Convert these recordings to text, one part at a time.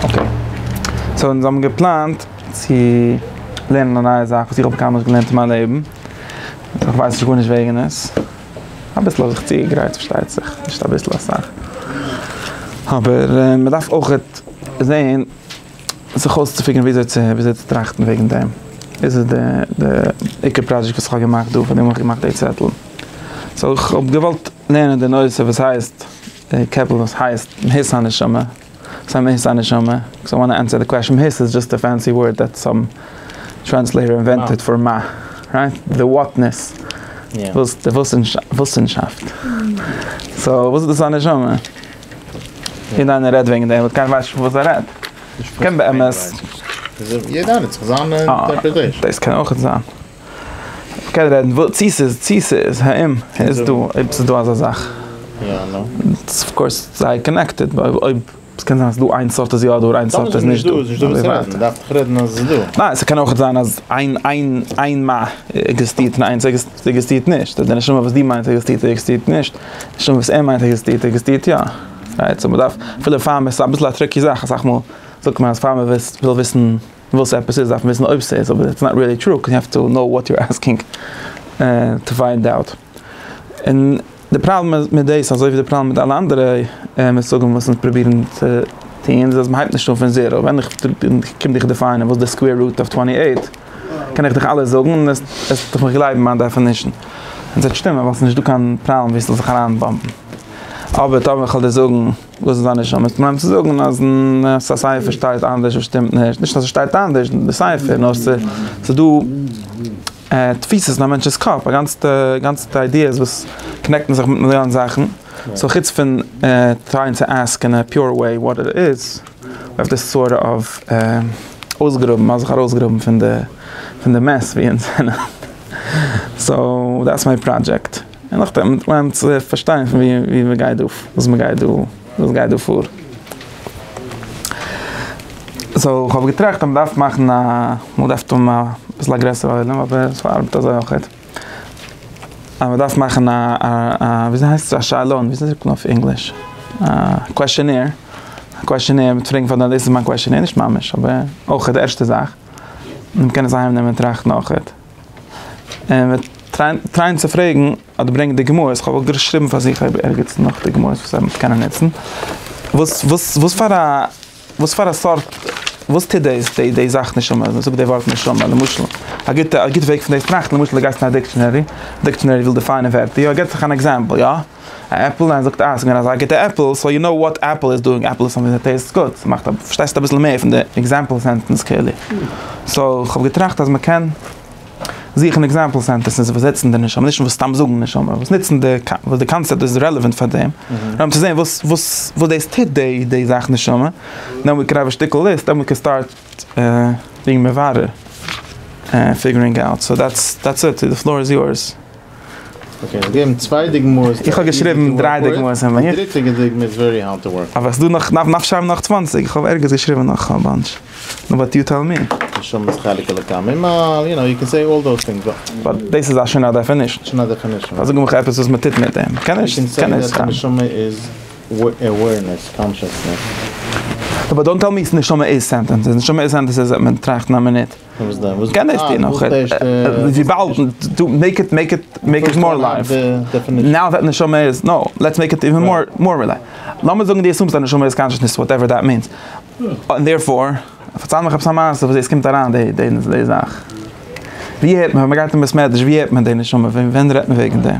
אקעי, סאו אונז האבן געפלאנט צו לערנען א נייע זאך וואס איך האב קיינמאל נישט געלערנט אין מיין לעבן, איך ווייס נישט גארנישט וועגן עס, אביסל האב איך צוגעגרייט פארשטייט זיך, נישט אביסל אסאך, אבער מען דארף אויך זעהן זיך אויסצופיגערן וויאזוי צו וויאזוי צו טראכטן וועגן דעם, דאס איז די עיקר פראדזשעקט וואס איך האב געמאכט דא, פארדעם האב איך געמאכט די צעטל, סאו איך האב געוואלט לערנען די נושא וואס הייסט, די קעפל וואס הייסט מהות הנשמה. סא מי איז א נשמה? קאוז איי וואנט טו ענסער די קוועשאן, היס איז דזשאסט א פענסי ווארד דעט סאם טרענסלעיטער אינווענטעד פאר מה, רייט? די וואטנעס, וואס די וואוסענשאפט. סא וואס איז דאס א נשמה? יעדע איינער רעדט וועגן דעם באט קיינער ווייסט נישט פון וואס ער רעדט. קען באמת. יעדע איינער האט זיך זיין אינטערפרעטעישאן. דאס קען אויכעט זיין. מ'קען רעדן וואס צי ס'איז צי ס'איז האם איז דא אויב ס'איז דא אזא זאך. ס'איז אויף קאורס זייער קאנעקטעד בה אויב ס'קען זיין אז דא איין סארט איז יא דא איין סארט איז נישט דא. ניין ס'קען אויך זיין אז איין איין איין מ עקזעסטירט און איינס עקזעסטירט נישט. די נשמה וואס דו מיינסט עקזעסטירט עקזעסטירט נישט. די נשמה וואס ער מיינט עקזעסטירט עקזעסטירט יא. רייט? סאו מ'דארף אפילו פאר מ'איז אביסל א טריקי זאך אסאך מאל זאגט מען אז פאר מ'וויל וויסן דו ווילסט עפעס איז דארף מען וויסן אויב סאיז אבער איטס נאט ריעלי טרו קאוז יו העוו טו קנאו וואט יו אסקינג טו פיינד אוט און די פראבלעם מיט דאס אזוי ווי די פראבלעם מיט אלע אנדערע מושגים וואס אונז פרובירן צו טון איז אז מהייבט נישט אן פון זעראו ווען איך קום דיך דעפיינען וואס די סקווער רוט אוו טווענטי עיט קען איך דיך אלעס זאגן און עסטעך מיך גלייבן מיין דעפענישן און סוועט שטימען ווייל סאיז נישט דא קיין פראבלעם ווי סזאל זיך אריינבאמבן אבער טאמער כוועל דיר זאגן וואס איז דיין נשמה איז פראבלעם צו זאגן אז א סייפער שטייט אנדערש וואס שטימט נישט, נישט אז עס שטייט אנדערש די סייפער נאר עס איז דא תפיסות אין א מענטש'ס קאפ א גאנצעטע גאנצעטע איידיעס וואס קאנעקטן זיך מיט מיליאן זאכן סאו חוץ פון טרייען צו עסק אין א פיור וועי וואט איט איז אויף די סארט אוו אויסגראבן מ'האט זיך ארויסגראבן פון די פון די מעס ווי אונז זענען סאו דעטס מיי פראדזשעקט. און נאכדעם וועט מען צווערט פארשטיין פון וואו מען גייט דא, וואס מען גייט דא, וואס גייט דא פאר. סאו איך האב געטראכט אז מען דארף מאכן א, מען דארף האבן א ביסל א גרעסערע עולם, אבער עס ארבעט אזוי אויך. אז מען דארף מאכן א, וויאזוי הייסט עס, א שאלון, וויאזוי זאגט מען אויף ענגליש, א קוועשענעיר, א קוועשענעיר מיט פראגן פאר די, דאס איז מיין קוועשענעיר, נישט ממש, אבער אויך די ערשטע זאך, און מען קען עס אהיימנעמען און טראכטן אויך. און מיר טרייען צו פרעגן אדער ברענגען די גמרות, איך האב אויך געשריבן פאר זיך אויב ערגעץ נאך די גמרות וואס ער וועט קענען נוצן, וואס וואס וואס פאר א וואס פאר א סארט, וואס טוט די די זאך נשמה, מען זאגט די ווארט נשמה, למשל א גוטע א גוטע וועג פון דאס טראכטן, למשל די גייסט אין א דיקשענערי, דיקשענערי וויל דעפיינען ווערטער, יא ער געבט זיך אן עקזעמפל יא. א עפל אין זאגט אה עס איז געווען אזא גוטע עפל סאו יו נאו וואט עפל איז דואינג עפל איז סאמטינג דעט טעיסטס גוד ס'מאכט א פארשטייסט אביסל מער פון די עקזעמפל סענטענס כאילו סאו כ'האב געטראכט אז מ'קען זוכן עקזעמפל סענטענסעס וואס זעצן די נשמה נישט וואס סתם זאגן נשמה וואס נוצן די וואס די קאנצעפט איז רעלעווענט פאר דעם נאר צו זען וואס וואס וואס דאס טוט די די זאך נשמה דען ווי קען האב א שטיקל ליסט דען ווי קען סטארט בינג מברר ענד פיגערינג אוט סאו דעטס דעטס איט די פלאר איז יורס. איך האב געשריבן דריי דוגמאות אין מיר. אבער ס'דא נאך, נאך שרייבן נאך צוואנציג, איך האב ערגעץ געשריבן נאך א באנטש. נאו באט יו טעל מי. באט דאס איז שוין א דעפענישן. פאר זאג מיך עפעס וואס מ'טוט מיט דעם. קען נישט, קען נישט סתם. נאו באט דאנט טעל מי נשמה איז סענטענס. נשמה איז סענטענס אז מען טראכט אין א מינוט. וואס דען? וואס קען דאס טון נאך? וויבאלד דו מעיק איט מעיק איט מעיק איט מאר לייוו. נאו דעט נשמה איז נאו, לעטס מעיק איט איווען מאר מאר רילי. לאמיר זאגן דו עסומסט אז נשמה איז קאנשעסנעס וואטעווער דעט מינס. און דערפאר, פארצייל מיך עפעס א מעשה וואס דאס קומט אריין די די זאך. ווי הערט מען ווען מ'גייט אין בית מדרש ווי הערט מען די נשמה? ווען רעדט מען וועגן דעם?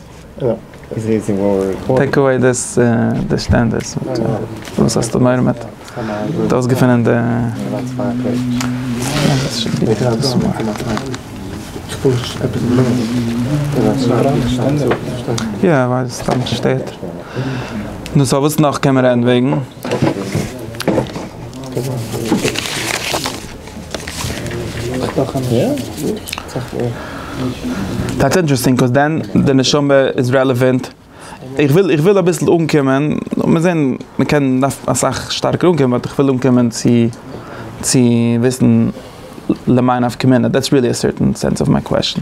טעיק אוועי די סטענדערס, וואס האסטו מורא מיט? דו האסט געפונען די. יא איך ווייס סתם מיך שטערט. נו סאו וואס נאך קען מען רעדן וועגן? דעטס אינטערעסטינג ביקאוז דען די נשמה איז רעלעווענט. איך וויל איך וויל אביסל אנקומען, לאמיר זען, מען קען דארף אסאך שטארקער אנקומען באט איך וויל אנקומען צו צו וויסן למאי נפקא מינה דעטס ריעלי א סערטען סענס אוו מיי קוועסטשן.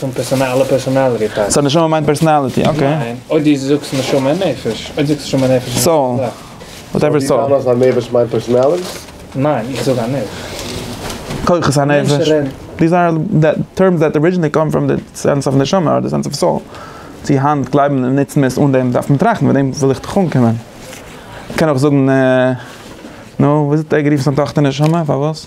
פון פערסאנאל פערסאנאליטי טייפ. סא נשמה מיינט פערסאנאליטי, אקעי. ניין, אויב דו זאגסט נשמה און נפש, אויב זאגסטו נשמה און נפש איז די זעלבע זאך. סאו דו טענה'סט אז א נפש מיינט פערסאנאליטי? ניין, איך זאג א נפש. כוחות הנפש. דיז אר טערמס דעט ארידזשינעלי קאם פראם די סענס אוו נשמה אר די סענס אוו סאול. צו היינט גלייבן און נוצן מיר עס אן דעם דארף מען טראכטן, מיט דעם וויל איך דיך אנקומען. קען אויך זאגן, נו, וויאזוי האט ער גערופן זיין טאכטער נשמה? פארוואס?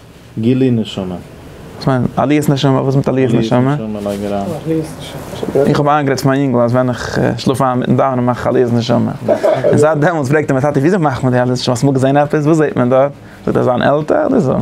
גילוי נשמה. וואס מיינט עליית נשמה? וואס מיט עליית נשמה? איך האב איינגערעדט צו מיין יונגל אז ווען איך שלאף איין מיטן דאווענען מאך איך עליית נשמה. און זייט דעמאלטס פרעגט ער מיר טאטי וויאזוי מאכט מען די עליית נשמה? האסט אמאל געזען עפעס? וואס זעט מען דארט? זאגט ער זיין עלטער אדער זון.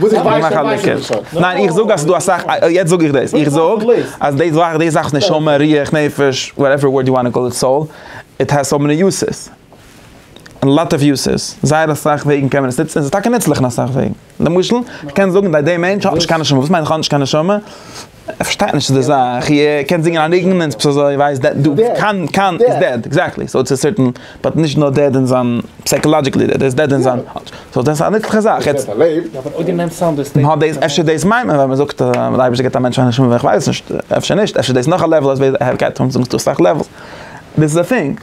וואס איך ווייס פון ווייס איך דאס שוין. ניין איך זאג אז ס'איז דא אסאך, יעצט זאג איך דאס, איך זאג אז די זאך, די זאך נשמה, רוח, נפש, וואטעווער ווארד יו וואנט טו קאל איט, סאול, איט העז סאו מעני יוסעס, א לאט אוו יוסעס, זייער אסאך וועגן קען מען עס נוצן, און ס'איז טאקע נוצליך אין אסאך וועגן, למשל, כ'קען זאגן אז די מענטש האט נישט קיין נשמה, וואס מיינט איך האב נישט קיין נשמה? ער פארשטייט נישט די זאך, איר קענט זינגען א ניגון און עס איז אזוי ווייסט דעט דו קאן קאן איז דעד, עקזעקטלי, סאו צו סערטען, באט נישט נאר דעד אין זיין סייקאלאדזשיקלי דעד, ער איז דעד אין זיין, סאו דאס איז א נוצליכע זאך, יעצט, נאר דאס, אפשר דאס מיינט מען ווען מען זאגט אז דער אייבערשטער געבט א מענטש א נשמה, איך ווייס נישט, אפשר נישט, אפשר דאס איז נאך א לעוול, אזויווי די העריקייט, זאגסטו אסאך לעוולס, דאס איז א טינג.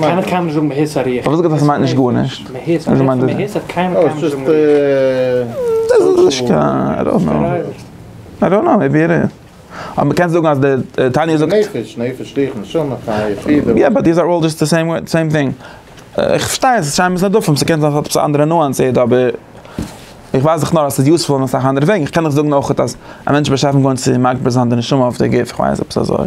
קיינער קיינמאל נישט זאגן מהיסח ריחו. איך וואלט געזאגט אז ס'מיינט נישט גארנישט. מהיסח ריחו און מהיסח האט קיינמאל קיינמאל נישט זאגן ריחו. דאס איז נישט קיין, איי דאנט נאו. איי דאנט נאו, מעיבי איט איז. אבער מ'קען זאגן אז די תניא זאגט. נפש, נפש ריחו, נשמה חיה, יחידה. יא באט דיז אר אלל דזשאסט די סעים ווארד, סעים טינג. איך פארשטיי אז ס'שיינער מיט נדפים, ס'קען זיין ס'האט עפעס א אנדערע נואנס איט, אבער איך ווייס דאך נאר אז ס'איז יוזפול אין אסאך אנדערע וועגן. איך קען דאך זאגן אויך אז א מענטש איז בשעת'ן גורם צו מגביר זיין די נשמה אויף די גוף, איך ווייס, עפעס אזוי.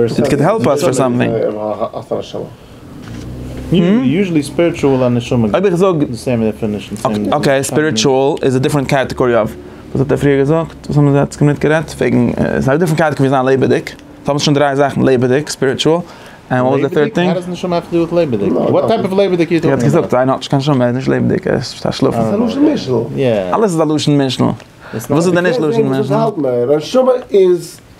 איט קען העלפ אס פאר סאמטינג. אויב איך זאג אקעי ספיריטשועל איז א דיפרענט קעטעגארי אוו וואס האט ער פריער געזאגט וואס האבן זיי יעצט קומען גערעדט וועגן ס'איז א דיפרענט קעטעגארי זיין לעבעדיג סאו האבן זיך שוין דרײַ זאכן לעבעדיג ספיריטשועל ענד וואס איז די טירט טינג? ער האט געזאגט איינער האט נישט קיין נשמה ער איז נישט לעבעדיג ער איז פאר שלאפן. ס'איז א לשון משנה. אלעס איז א לשון משנה. וואס איז דען נישט לשון משנה?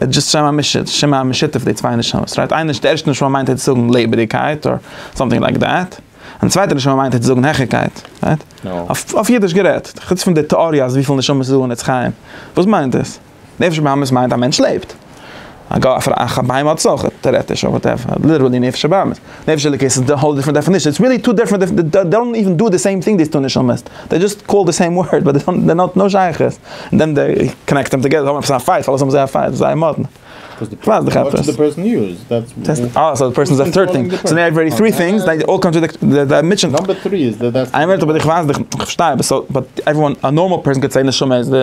איז דזשאסט שם המשותף, שם המשותף פון די צוויי נשמות, רייט? איין נשמה, די ערשטע נשמה מיינט היצט זאגן לעבעדיגקייט אר סאמטינג לייק דעט, און די צווייטע נשמה מיינט היצט זאגן העכערקייט, רייט? אויף אידיש גערעדט, חוץ פון די טעאריע אז וויפיל נשמות איז דא אין עץ חיים, וואס מיינט דאס? נפש הבהמית מיינט א מענטש לעבט, א ג א פ א א בהמה האט עס אויך, טערעטיש אר וואטעווער, ליטערלי נפש הבהמית. נפש אלוקית איז א האול דיפרענט דעפענישן, איטס ריעלי טו דיפרענט, זיי דאנט איווען דא די סעים טינג דעיס טו נשמות, דעי דזשאסט קאלד די סעים ווארד באט דעי דאנט נאט נאו שייכות, און דען דעי קאנעקט דעם טאגעדער, זיי האבן עפעס א פייט, פארוואס האבן זיי א פייט? זיי זייער מאדנע. כווייס דיך עפעס. סאו די פערסאן איז א טרירט טינג, סאו נאו עווערי טרי טינגס דעי אלל קאנטרעדיקט די מיטשען. נאמבער טרי איז די דעסטינעישאן. איין מינוט אבער איך ווייס דיך, איך פארשטיי אבער סאו באט עוועריוואן א נארמאל פערסאן קען זעהן נשמה איז די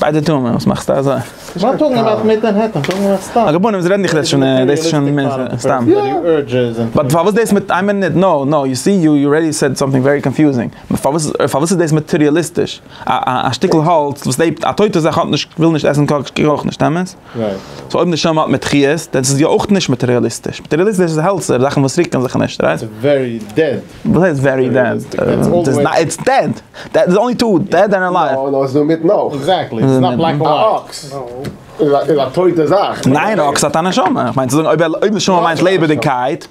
ביידע טוען מיר, וואס מאכסטו אזוי? מה טאלקינג אבאוט מיט מענהעטען, טאלקינג אבאוט סתם. א געבונעם, זיי רעדן דיך דאס שוין, דאס איז שוין סתם. באט פארוואס דאס מיט איין מינוט, נא נא, יו סי יו ארעדי סעד סאמטינג ווערי קאנפיוזינג, פארוואס פארוואס איז דאס מאטעריאליסטיש, א שטיקל האלץ וואס לעבט, א טויטע זאך האט נישט, וויל נישט עסן קאויפט אויך נישט, אמת? סאו אויב נשמה האט מיט חיות, דען איז עס יא אויך נישט מאטעריאליסטיש. מאטעריאליסטיש איז העלצער, זאכן וואס רוקן זיך נישט, רייט? ס'איז ווערי דעד. וואס הייסט ווערי דעד? איטס דעד! דעד איז אנלי טו דעד ענד אלייוו. נאו, נאו, ס'איז דא מיטן אויך. עקזעקטלי, ס'איז נאט בלעק און ווייט. א אקס איז א טויטע זאך. ניין, א אקס האט א נשמה. כ'מיין צו זאגן אויב נשמה מיינט לעבעדיגקייט.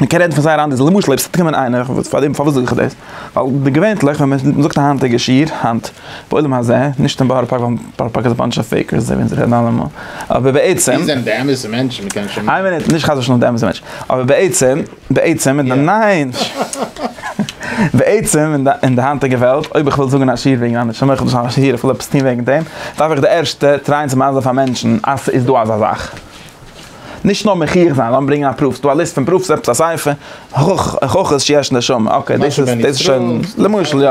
מען קען רעדן פון זייער אנדערע זאכן, למשל אויב ס'וועט קומען איינער, פארדעם פארוואס זאג איך דאס, ווייל געווענטליך ווען מען זאגט א היינטיגע שיעור, היינט, בעולם הזה, נישט אין בארא פארק, ווייל בארא פארק איז א באנטש אוו פעיקערס, אזוי ווי אונז רעדן אלעמאל, אבער בעצם, ווי זענען די אמת'ע מענטשן? מען קען שוין, איין מינוט, נישט חס ושלום די אמת'ע מענטשן, אבער בעצם, בעצם, אין די ניין, בעצם אין די אין די היינטיגע וועלט, אויב איך וויל זאגן א שיעור וועגן א נשמה, איך וויל זאגן א שיעור, איך וויל עפעס טון וועגן דעם, דארף איך די ערשטע טרייען צו מענטשן פאר מענטשן אז ס'איז דא אזא זאך. נישט נאר מוכיח זיין, לאמיר ברענגען א פרוף, ס'דא א ליסט פון פרופס, עפעס א ספר, הוכחות שיש נשמה, אקעי, דאס איז, דאס איז שוין, למשל יא,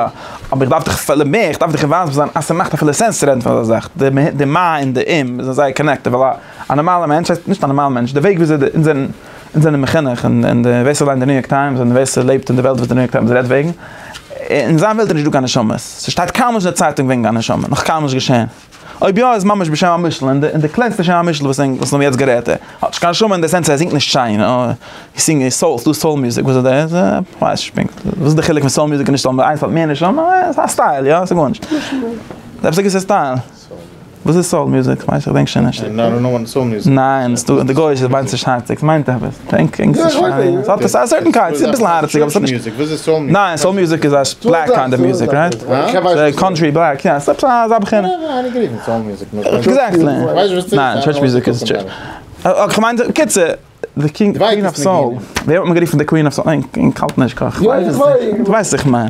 אבער איך דארף דיך אפילו מער, איך דארף דיך אינוואלווד זיין אז ס'מאכט אפילו סענס צו רעדן פון אזא זאך, די מ ה, די מ ה און די אם זענען זייער קאנעקטעד, ווייל א נארמאלער מענטש, הייסט נישט א נארמאלער מענטש, די וועג וויאזוי אונז זענען, אונז זענען מחונך, און און די ווער ס'ליינט די ניו יארק טיימס, און ווער ס'לעבט אין די וועלט וואס די ניו יארק טיימס רעדט וועגן, אין זיין וועלט איז נישטא קיין נשמות, ס'שטייט קיינמאל נישט אין די צייטונג וועגן א נשמה, נאך קיינמאל נישט געשען. אויב יא איז ממש בשם המשל און די קלענסטע שם המשל וואס ענק וואס האבן יעצט גערעדט ער האט נישט קיין שם אין די סענס ער זינגט נישט שיין ער זינגט ער סאולט דא סאול מוזיק וואס איז דעס כווייס נישט פונקט וואס איז די חילוק פון סאול מוזיק און נישט סאול איינס האט מער נישט שם עס א סטייל יא סאיז גארנישט עפעס א געוויסע סטייל וואס איז סאול מוזיק כווייס איך דענק שוין נישט ניין די גוישע מיינט נישט היינט מיינט עפעס. טענקינג ס'איז שיין, ס'האט א סערטען קיינד, ס'איז אביסל הארציג אבער ס'האט נישט, ניין סאול מוזיק איז א בלעק קאנטרי מוזיק רייט? קאנטרי בלעק יא, ס'האט אזא בחינה. עקזעקטלי, ניין טשערטש מוזיק איז טשערטש, אוקיי כ'מיין די, קיצור, די קינג קווין אוו סאול, ווער האט מען גערופן די קווין אוו סאול, איך האלט נישט כ ק, ווייס וואס איך מיין.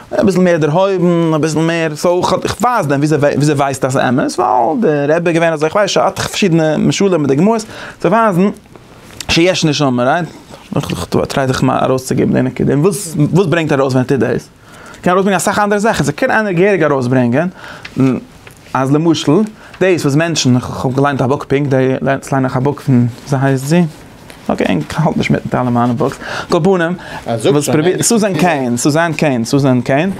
אביסל מער דערהויבן, אביסל מער סאו כ'האב, איך ווייס דען וויאזוי וויאזוי ווייסט אז אמת? ווייל די רבי איז געווען אזוי איך ווייס שוין פארשידענע משלים מיט דוגמאות צו ווייזן שיש נשמה רייט? איך טריי זיך מיין ארויסצוגעבן די נקודה, און וואס וואס ברענגט ארויס ווען ער טוט דאס? קען ארויסברענגען אסאך אנדערע זאכן, ס'קען איינער געהעריג ארויסברענגען. אז למשל, דאס וואס מענטשן, כ'האב געליינט א בוק פונקט, יעצט ליין איך א בוק פון, וויאזוי הייסט זי? אקעי, כ'האלט נישט מיט אלע מיינע בוקס, על כל פנים, וואס פרובירט, סוזען קעין, סוזען קעין, סוזען קעין,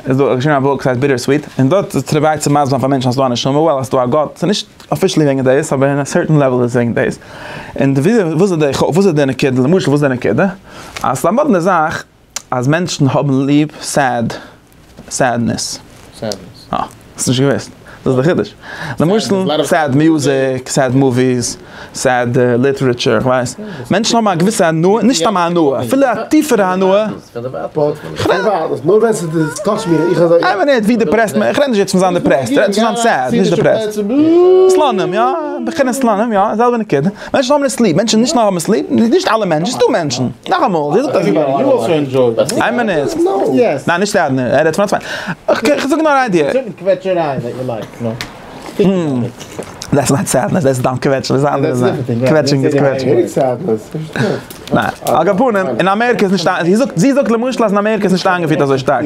איז דא, האט געשריבן א בוק וואס הייסט ביטער סוויט, און דארט פרובירט צו מסביר פאר מענטשן אז ס'דא א נשמה, וועל אז ס'דא א גאט, ס'איז נישט אפישעלי וועגן דאס, אבער אין א סערטען לעוועל איז עס וועגן דאס. און וויאזוי, וואס איז די, וואס איז די נקודה, למשל וואס איז די נקודה? אז ס'איז א מאדנע זאך. אז מענטשן האבן ליב סעד סעדנעס. סעדנעס. אה. האסט נישט געוואוסט? דאס איז די חידוש. למשל סעד מוזיק, סעד מאוויס, סעד ליטערעטשור, כ'ווייס. מענטשן האבן א געוויסע הנאה, נישט סתם א הנאה, אפילו א טיפערע הנאה. כ'רעד. נאר ווען ס'איז טאטש מיר, איך אזוי. איי מינוט, ווי דיפרעסט מען, כ'רעד נישט יעצט פון זיין דיפרעסט, כ'רעד פון זיין סעד, נישט דיפרעסט. סלאנים, יא, בחינת סלאנים, יא, זעלבע נקודה. מענטשן האבן עס ליב, מענטשן נישט נאר האבן עס ליב, נישט אלע מענטשן, ס'דא מענטשן, נאכאמאל, זי זאגט אז זי גייט, איין מינוט, ניין נישט סעדנער, ער רעדט פון א צווייטן, כ'זאג נאר א איידיע. דעטס נאט סעדנעס, דעטס סתם קוועטשן, דאס אנדערע איז א, קוועטשינג איז קוועטשינג. ניין, על כל פנים, אין אמעריקע איז נישט, זי זאגט למשל אז אין אמעריקע איז נישט איינגעפירט אזוי שטארק.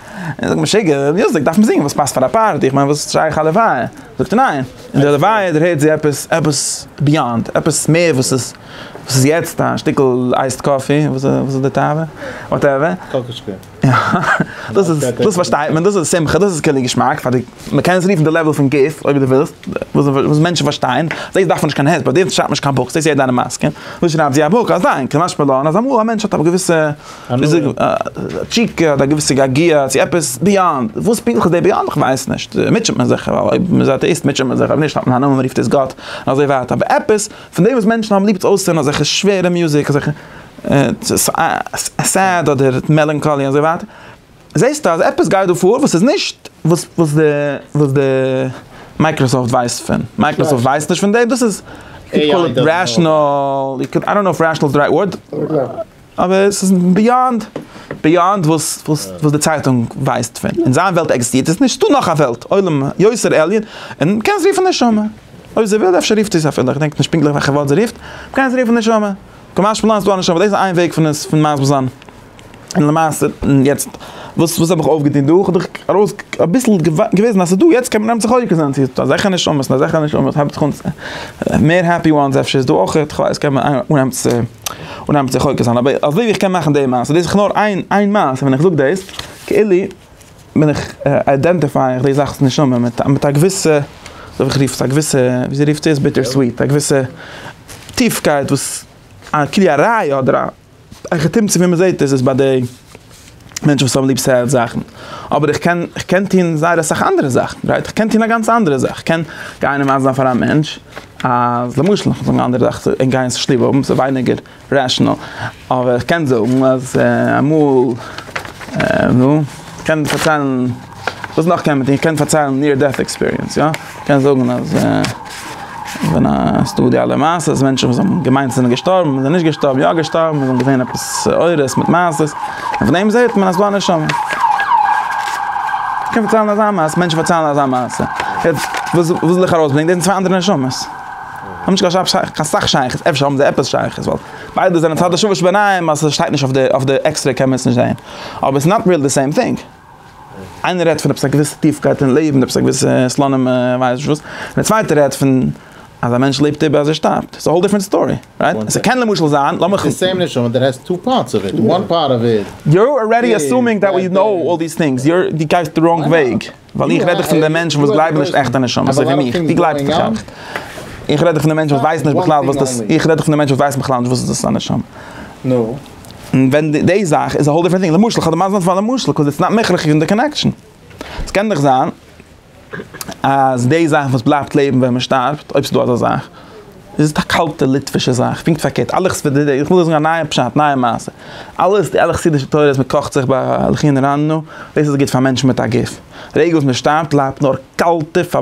און זאגט משוגע, ר' יוזיק דארף מען זינגען וואס פאסט פאר א פארטי, איך מיין וואס איז שייך א לוויה? זאגט ער ניין, אין די לוויה דערהערט זי עפעס, עפעס ביאנד, עפעס מער וואס איז, וואס איז יעצט א שטיקל אייסד קאפי, וואס איז די תאווה? וואטעווער. קאקאשקע. דאס איז, דאס פארשטייט מען, דאס איז שמחה, דאס איז קעלער געשמאק, פאר די, מען קען עס רופן די לעוועל פון גוף, אויב דו ווילסט, וואס מענטשן פארשטייען, דאס דארף מען נישט קיין העט, ביי דעם שרייבט מען נישט קיין בוקס, דאס איז יעדער אן א מסכים, דא שרייבט זי א בוק, א זאנג, כמשמע לעיל, אז אמאל א מענטש האט א געוויסע. וויאזוי א טשיקע האט א געוויסע געגוע צו עפעס ביאנד, וואס פונקטליך איז די ביאנד כ'ווייס נישט, מוטשעט מען זיך, אויב מ'איז אטעאיסט מוטשעט מען זיך, אויב נישט האט מען א נאמען מ'רופט עס גאט, און אזוי ווייטער, אבער עפעס פון דעם וואס מענטשן האבן ליב צו אויסהערן אזעלכע שווערע מוזיק, אזעלכע סעד אדער מעלאנקאלי אזוי ווייטער, זעסטו אז עפעס גייט דא פאר וואס איז נישט וואס די וואס די מייקראסאפט ווייסט פון, מייקראסאפט ווייסט נישט פון דעם, דאס איז, יו קאל איט רעשענאל, איי דאנט נאו איף רעשענאל איז די רייט ווארד. אבער עס איז ביאנד, ביאנד וואס וואס די צייטונג ווייסט פון, אין זיין וועלט עקזיסטירט עס נישט, ס'איז דא נאך א וועלט, עולם יוצר עליון, און מ'קען עס רופן נשמה, אויב זי וויל, אפשר רופט זי עס אפילו, איך דענק נישט פונקטליך וועלכע ווארט זי רופט, מ'קען עס רופן נשמה, כמשמע לן איז דא א נשמה, דאס איז איין וועג פון עס פון מסביר זיין, און למעשה און יעצט וואס וואס האב איך אויפגעטון דא, כ'האב דיך ארויס אביסל געוויזן אז ס'איז דא, יעצט קען מען נעמען זיך חוקר זיין צו ס'איז דא אזעלכע נשמות און אזעלכע נשמות, מער העפי וואנס אפשר איז דא אויכעט, כ'ווייס, קען מען אנהייבן צו. און נעמט זיך חוקר זיין, אבער אזוי ווי איך קען מאכן די מעשה, דאס איז נאר איין איין מעשה, ווען איך זאג דאס, כאילו בין איך איידענטיפיי איך די זאכ'ס נשמה מיט מיט א געוויסע, וויל איך רופן עס א געוויסע, ווי זי רופט עס, ביטער סוויט, א געוויסע טיפקייט וואס א כלי א ראיה אדער א, א כתם צו ווי מ'זעט עס איז ביי די. מענטשן וואס האבן ליב סעד זאכן, אבער איך קען איך קען טון זייער אסאך אנדערע זאכן, רייט? איך קען טון א גאנץ אנדערע זאך, איך קען גיין און ווייזן זיין פאר א מענטש אז למשל נאך זאגן אנדערע זאך צו אים גיין זיך ליב האבן ס'איז ווייניגער רעשענאל, אבער איך קען זאגן אז אמאל נו, איך קען פארציילן. וואס נאך קען מען טון? כ'קען פארציילן ניר דעט עקספיריענס, יא? כ'קען זאגן אז ווען א ס'איז דא די אלע מעשות, מענטשן וואס האבן געמיינט זענען געשטארבן, זענען נישט געשטארבן, יא געשטארבן, זיי האבן געזעהן עפעס אורות מיט מעשות, און פון דעם זעהט מען אז ס'איז דא א נשמה. כ'קען פארציילן אזא מעשה, מענטשן פארציילן אזא מעשה. יעצט, וואס וויל איך ארויסברענגען? דאס זענען צוויי אנדערע נשמות. האבן נישט קיין שייכות, קיין סאך שייכות, אפשר האבן זיי עפעס שייכות, ווייל ביידע זענען צד השוה שבעניים, אז ס'שטייט נישט אויף די, אויף די עקסרעי קען מען עס נישט זעהן. אבער ס'איז נאט ריעל די סעים טינג. איינער רעדט פון עפעס א געוויסע טיפקייט אין לעבן, עפעס א געוויסע סלאנים ווייס איך נישט וואס, און דער צווייטער רעדט פון אז א מענטש לעבט איבער אז ער שטארבט, ס'איז א האול דיפרענט סטארי, רייט? עס קען למשל זיין, לאמיך. איטס די סעים נשמה דעט העז טו פארטס אוו איט, וואן פארט אוו איט. יו אר ארעדי עסומינג דעט ווי נאו אלל דיס טינגס, יו די גייסט די ראנג וועג, ווייל איך רעד דיך פון די מענטשן וואס גלייבן נישט עכטע נשמות, אזוי ווי מיך, דו גלייבסט נישט עכט, איך רעד דיך פון די מענטשן וואס ווייסן נישט בכלל וואס דאס, איך רעד דיך פון די מענטשן וואס ווייסן בכלל נישט וואס איז דאס א נשמה. און ווען די זאך איז א האול דיפרענט טינג, למשל איך האב דערמאנט נאר פאר א משל קאוז איטס נאט מכרח אין די קאנעקשאן. עס קען דאך זיין אז די זאך וואס בלייבט לעבן ווען מען שטארבט, אויב ס'איז דא אזא זאך, איז א קאלטע ליטווישע זאך, פונקט פארקערט, אלע חסידי, איך וויל דיר זאגן א נייע פשט, נייע מעשה, אלעס די אלע חסידישע תורות מען קאכט זיך ביי לחין רעננו, דאס איז גוט פאר מענטשן מיט א גוף. די רגע וואס מען שטארבט בלייבט נאר קאלטע פאר.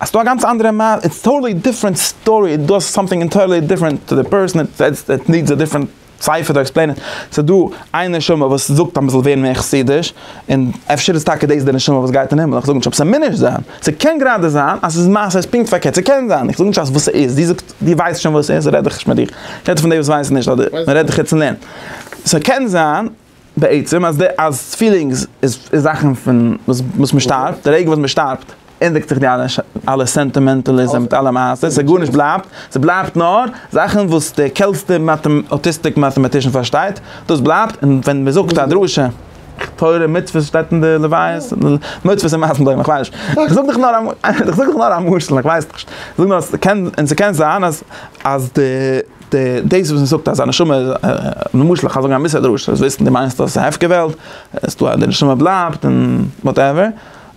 האסטו א גאנץ אנדערע מעשה, איטס טאטעלי דיפרענט סטארי, איט דאס סאמטינג אינטערלי דיפרענט טו די פערסאן, איט נידס א דיפרענט ספר טו עקספלעין איט, סאיז דא איין נשמה וואס זאגט אז מ'זאל ווערן מער חסידיש, און אפשר איז טאקע דאס די נשמה וואס גייט אין הימל, איך זאג נישט אבער ס'מוז נישט זיין, ס'קען גראדע זיין אז ס'איז מעשה איז פונקט פארקערט, ס'קען זיין, איך זאג נישט אז וואס ס'איז, דו זאגסט דו ווייסט שוין וואס ס'איז, רעד איך נישט מיט דיר, איך רעד פון די וואס ווייסן נישט אדער מ'רעדט דיך יעצט אין לערנען, ס'קען זיין. בעצם אז די אז פילינגס איז איז זאכן פון וואס וואס מען שטארבט די רגע וואס מען שטארבט ענדיגט זיך די אלע אלע סענטימענטעליזם מיט אלע מעשה ס'איז גארנישט בלייבט ס'בלייבט נאר זאכן וואס די קעלסטע אוטיסטיק מאטעמאטישן פארשטייט דאס בלייבט און ווען מען זאגט א דרשה תורה מצוות שטייט אין די לוויות מצוות און מעשים בוים כ'ווייס נישט איך זאג דאך נאר א איך זאג דאך נאר א משל כ'ווייס נישט זאג נאר אז ס'קען און ס'קען זיין אז אז די. די דאס וואס מ'זאגט אז א נשמה איז למשל איך גיי זאגן א מיסטער דרשה זאלסט וויסן די מיינסט אז ס'העפקע וועלט עס טאר די נשמה בלייבט און וואטעווער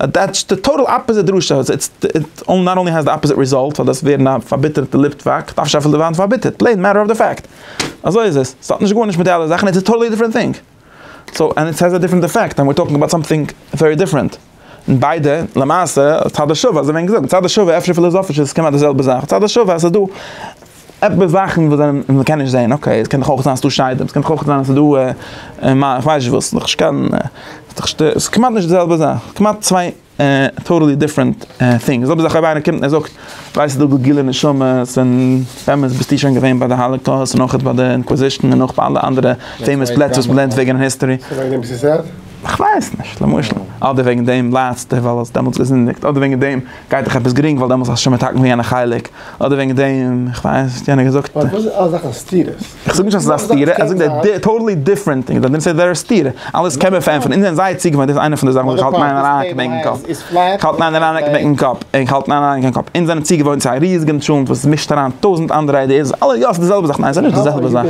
דעטס די טאטאל אפעזיט דרשה איטס איטס נאט אנלי האזט די אפעזיט ריזאלט פאר דאס ווערן א פארביטערטע ליטוואק דארף נישט אפילו ווערן פארביטערט פלעין מעטער אוו די פעקט אזוי איז עס ס'האט נישט גארנישט מיט די אלע זאכן איטס א טאטאלי דיפרענט טינג. סאו ענד איט העז א דיפרענט אפעקט ענד וויר טאלקינג אבאוט סאמטינג ווערי דיפרענט. און ביידע למעשה צד השוה אזוי ווען געזאגט צד השוה אפשר פילאזאפיש איז עס כמעט די זעלבע זאך צד השוה אז עס איז דא עפעס זאכן וואס זענען וואס מ'קען נישט זעהן אקעי עס קען דאך אויך זיין עס איז דא שדים עס קען דאך אויך זיין עס איז דא כ'ווייס נישט וואס ס'איז דאך נישט קיין ס'איז דאך כמעט נישט די זעלבע זאך כמעט צוויי. טאטעלי דיפרענט טינג, ס'איז אויב איינער קומט און זאגט, ווייסט ס'איז דא דא גילו נשמות, און באמת ביסטו שוין געווען ביי די האלעקאוסט און אויך ביי די אינקוויזישן און אויך ביי אלע אנדערע פעימאס פלעצער וואס מ'לערנט וועגן אין היסטארי. ס'איז וועגן דעם וואס איז ער? כ'ווייס נישט, למשל. אדער וועגן דעם ליידסטו ווייל האסט דעמאלטס געזינדיגט, אדער וועגן דעם גייט דיך עפעס גרינג ווייל דעמאלטס האסט שוין מתקן ווי יענע חלק, אדער וועגן דעם, איך ווייס וואס יענער האט געזאגט. פארוואס איז אלע זאכן סתירות? איך זאג נישט אז עס איז א סתירה, איך זאג דער דיף, טאטעלי דיפרענט טינג, דער דיף איז דער סתירה, אלעס קען מען פארענטפערן, אונז זענען זייער צוגעוואוינט, דאס איז איינע פון די זאכן וואס איך האלט מיינע אריין אין מיין קאפ, איך האלט מיינע אריין אין מיין קאפ, איך האלט מיינע אריין אין מיין קאפ, אונז זענען צוגעוואוינט צו א ריזיגן טשולנט וואס עס מישט אריין טויזנט אנדערע איידיעס, אלע יא ס'איז די זעלבע זאך, ניין ס'איז נישט די זעלבע זאך.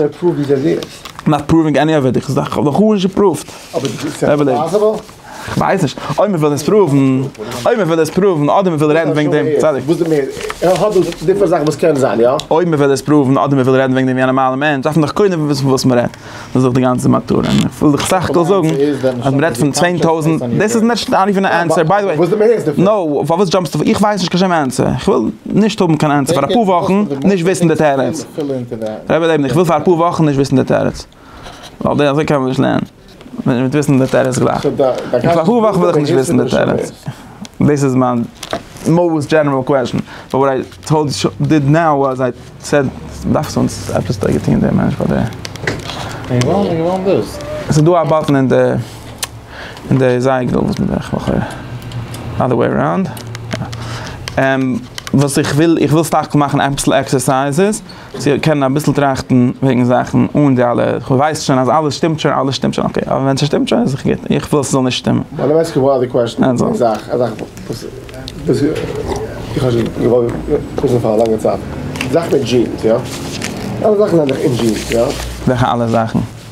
נאט פראווינג עני אוו איט. אבער איז עס פאסיבעל? כ'ווייס נישט, אויב מ'וויל עס פראוון, אויב מ'וויל עס פראוון אדער מ'וויל רעדן וועגן דעם, צדיק. וואס דו מיינסט, ער האט דאס דיפערענט זאכן וואס קען זיין, יא? אויב מ'וויל עס פראוון אדער מ'וויל רעדן וועגן דעם ווי א נארמאלער מענטש דארף מען דאך קודם וויסן פון וואס מ'רעדט, דאס איז דאך די גאנצע מטרה, און איך וויל דאך סך הכל זאגן אז מ'רעדט פון צוויי טויזנט, דאס איז נישט נאט איווען א ענסער, ביי די וועי, נאו, פארוואס דזשאמפסטו פון, איך ווייס נישט קיין שום ענסער, איך וויל נישט האבן קיין ענסער פאר אפאר וואכן נישט וויסן די תירוץ, ר' לעבן איך וויל פאר אפאר וואכן נישט וויסן די תירוץ, ווייל אזוי קען מען נישט לערנען. וויל נישט וויסן די תירוץ גלייך. און פאר אפאר וואכן וויל איך נישט וויסן די תירוץ. דאס איז מיין מאוסט דזשענעראל קוועסטשן. באט וואט איי טאלד ש ב דיד נאו וואס איי סעד דארפסט אונז עפעס טובה טוהן דעם מענטש פאר די. ס'איז דא א באטן אין די אין די זייגער וואס מ'דארף איך לכאורה אדער וועי אראונד. וואס איך וויל איך וויל סך הכל מאכן אביסל עקסערסייזעס. צו קענען אביסל טראכטן וועגן זאכן אן די אלע, כווייס שוין אז אלעס שטימט שוין, אלעס שטימט שוין, אקעי, אבער ווען ס'שטימט שוין איז דאך גוט, איך וויל ס'זאל נישט שטימען. ביי די מעסקער וואלד די קוועסטשן איז א זאך, א זאך וואס איך האב שוין געוואלט וויסן פאר א לאנגע צייט, די זאך מיט דזשינס, יא? אלע זאכן זענען דאך אין דזשינס, יא? וועלכע אלע זאכן?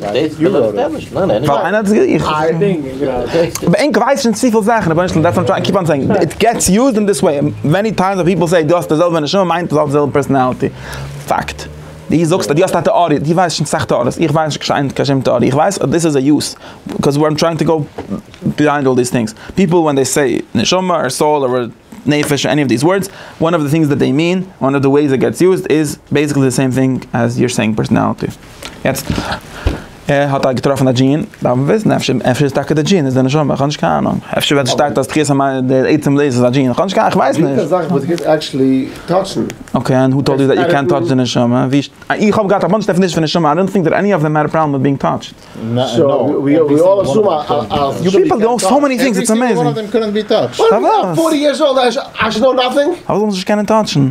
דאס וויל איך דען נישט, ניין עניוועי. ווייל איינער האט עס געזאגט, איך האב עס געזאגט. ענק ווייסן שוין צופיל זאכן, רבונו של עולם, דעטס וואט איים קיפ אן סעינג, איט געטס יוזד אין דיס וועי, מעני טיימס ווען פיפל סעי דו האסט די זעלבע נשמה מיינט דו האסט די זעלבע פערסאנאליטי, פאקט. דו זאגסט אז דו האסט א טעאריע, דו ווייסט שוין סאך טעאריעס, איך ווייס נישט קיין שום טעאריע, איך ווייס אז דאס איז א יוז, קאוז וויאר טרייענג טו גאו ביהיינד אלל דיס טינגס, פיפל ווען דעי סעי נשמה אר סאול אר נפש עני אוו דיס ווארדס, וואן אוו די טינגס דעט דעי מין, וואן אוו די וועיס איט געטס יוזד איז בעיסיקלי די סעים טינג עז יור סעינג פערסאנאליטי. יעצט, ער האט געטראפן א דזשין, דארף מען וויסן אפשר אפשר איז טאקע די דזשין איז די נשמה, כ'האב נישט קיין אהנונג, אפשר ווען ס'שטייט אז תחיית המתים דער עצם דאס איז א דזשין, כ'האב נישט קיין, כ'ווייס נישט. געוויסע זאכן וואס דו קענסט עקטשעלי טאטשן. אקעי ענד הו טאלד יו דעט יו קענט טאטש די נשמה? ווי שט איך האב געהאט א באנטש דעפינישענס פון נשמה, איי דאנט טינק דעט עני אוו דעם העד א פראבלעם מיט בינג טאטשד. יו פיפל דו סאו מעני טינגס איטס עמעיזינג. פארוואס? פארוואס זאלן זיי נישט קענען טאטשן?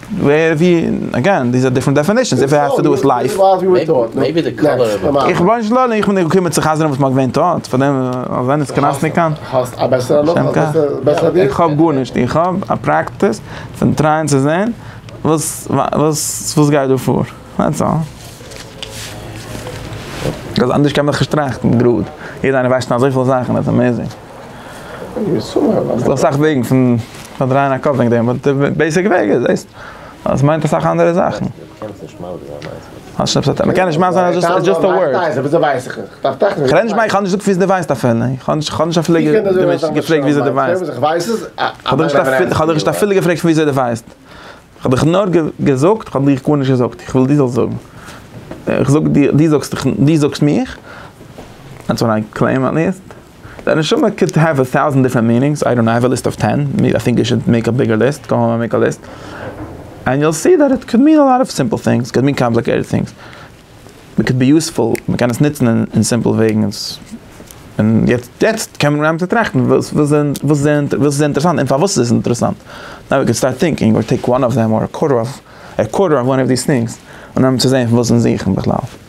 ווער ווי אגען דיז איז א דיפרענט דעפענישען איף איט העז טו דו וויט לייף. איך בין שלא איך בין נאר געקומען צו חזר'ן וואס מ'האט געווען טאט פאר דעם אז ענער קנא'ס ניט קיין. האסט א בעסערע נאך א בעסערע ווי. איך האב גארנישט איך האב א פרעקטיס פון טרייען צו זעהן וואס וואס וואס גייט דא פאר דעטס אלל. ביז אנדערש קען מען דאך נישט טראכטן גראד יעדער איינער ווייסט שוין אזויפיל זאכן אז עס איז אמעזינג. ס'דא אסאך וועגן פון פארדרייען א קאפ וועגן דעם, באט די בעיסיק וועג איז דאס, אז עס מיינט אסאך אנדערע זאכן. מ'קען נישט מאך זיין אז דזשאסט א ווארד. כ'רעד נישט כ'האב נישט געזאגט וויאזוי דו ווייסט אפילו, כ'האב נישט אפילו געפרעגט וויאזוי דו ווייסט. כ'האב דיך נישט אפילו געפרעגט פון וויאזוי דו ווייסט. כ'האב דיך נאר געזאגט, כ'האב דיר גארנישט געזאגט, כ'וויל דו זאלסט זאגן. כ'זאג דיר, דו זאגסט מיך, אנדזעסט ווען איי קלעים עט ליעסט. די נשמה קען האוו א טאוזענט דיפרענט מינינגס, איי דאנט נאו, האוו א ליסט אוו טען, איי טינק יו שוד מעיק א ביגער ליסט, גאו האום און מעיק א ליסט, ענד יו וויל סי דעט איט קען מין א לאט אוו סימפל טינגס, קען מין קאמפליקעיטעד טינגס, מען קען בי יוספול, מען קען עס נוצן אין סימפל וועגן, און יעצט קען מען אנהייבן צו טראכטן וואס איז אינטערעסאנט און פארוואס איז עס אינטערעסאנט, נאו ווי קען סטארט טינקינג אר טעיק וואן אוו דעם אר א קווארטער אוו וואן אוו דיס טינגס און אנהייבן צו זעהן פון וואס אונז זוכן בכלל.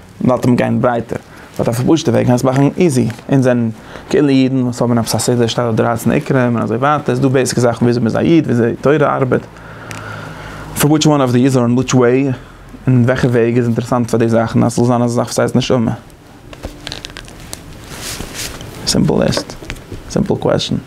מ'וואלט אים גיין ברייטער, ס'האט א פארפאשטע וועג קענסט מאכן איזי, אונז זענען כאילו אידן וואס האבן עפעס א סדר שטעל אויף דרייצן עיקרים און אזוי ווייטער, ס'איז דא בעיסיק זאכן וויאזוי מ'איז א איד, וויאזוי תורה ארבעט, פאר וויטש וואן אוו דיז אר אין וויטש וועי, אין וועלכע וועג איז אינטערעסאנט פאר די זאכן אז ס'זאל זיין אזא זאך וואס הייסט נשמה. סימפל ליסט, סימפל קוועסטשן.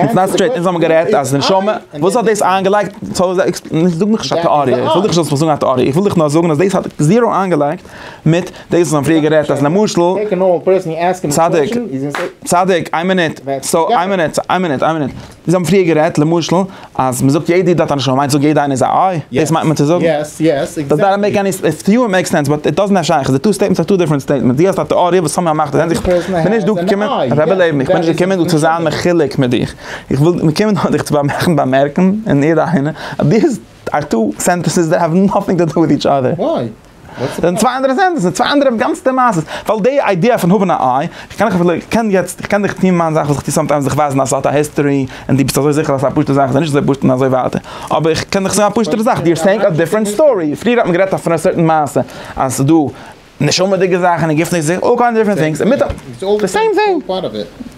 איטס נאט סטרעיט, אונז האבן גערעדט אז נשמה, וואס האט דאס איינגעלייגט, זאג מיך נישט א טעאריע, איך וויל דיך נישט זאלסט מיר זאגן א טעאריע, איך וויל דיך נאר זאגן אז דאס האט זירא איינגעלייגט מיט דאס וואס מיר האבן פריער גערעדט אז למשל, צדיק, צדיק, איין מינוט, סאו איין מינוט, איין מינוט, איין מינוט, מיר האבן פריער גערעדט למשל. אז מען זאגט יעדע איד האט א נשמה מיינט זאג יעדע איינער איז א איי? דאס מיינט מען צו זאגן? יעס יעס עקזעקטלי. דאזענט מעיק עני סענס, טו יו איט מעיק סענס באט איט דאזענט האט שייכות, די טו סטעיטמענטס אר טו דיפרענט סטעיטמענטס, די האסט א טעאריע וואס סאמהאו מאכט זען זיך, כ'בין נישט דא געקומען, רבי לעבן איך בין נישט געקומען דא צו זיין מחולק מיט דיך, איך וויל געקומען דא דיך צו באמערקן באמערקן און יעדע איינער אז דיס אר טו סענטענסעס דעט האוו נאטינג טו דו וויט איטש אדער. דאס זענען צוויי אנדערע סענטענסעס, צוויי אנדערע גאנצעטע מעשה'ס, ווייל די איידיע פון האבן א איי, איך קען אפילו, איך קען יעצט, איך קען דיך טון מיין זאך וואס איך טו סאמטיימס, דיך ווייזן א סארט א היסטארי, און דו ביסט אזוי זיכער אז ס'איז א פשוטע זאך, ס'איז נישט אזוי פשוט און אזוי ווייטער, אבער איך קען דיך זאגן א פשוטערע זאך, יו אר סעיאינג א דיפרענט סטארי, פריער האט מען גערעדט פון א סערטען מעשה, אז ס'איז דא נשמה'דיגע זאכן און גופ'נישט זיכער, אלל קיינד אוו דיפרענט טינגס, און מיט א, די סעים טינג.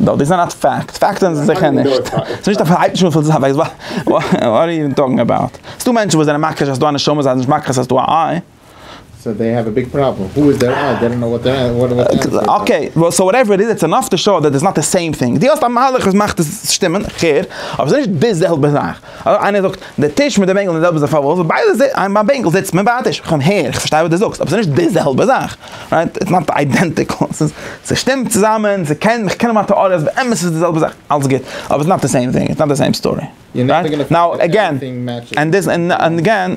נאו דיס איז נאט פעקט, פעקט זענען זיי זיכער נישט, ס'איז נישט אויף הייבט נישט אן פון זיך אוועק, וואט אר יו טאלקינג אבאוט, ס'דא מענטשן וואס זענען מכחיש אז ס'דא א נשמה זיי זענען נישט מכחיש אז ס'דא א איי. סאו דעי העוו א ביג פראבלעם, הו איז דער איי, דעי דאנט נאו וואט דער וואט דער ענסער איז. אקעי, סאו וואטעווער איט איז איטס ענאף טו שאו דעט איטס נאט די סעים טינג, דו האסט א מהלך וואס מאכט עס שטימען, איך הער, אבער ס'איז נישט די זעלבע זאך. אדער איינער זאגט, די טיש מיט די בענקל זענען די זעלבע זאך פארוואס? ווייל ביי די איין ביי בענקל זיצט מען ביי א טיש. איך האב הער, איך פארשטיי וואס די זאגסט, אבער ס'נישט די זעלבע זאך. רייט? איטס נאט איידענטיקל. ס'איז, ס'שטימט צוזאמען, ס'קען, כ'קען האבן א טעאריע אז באמת איז עס די זעלבע זאך, אלס גוט, אבער איטס נאט די סעים טינג, איטס נאט די סעים סטארי. רייט? נאו, עגעין, ענד דיס, ענד עגעין.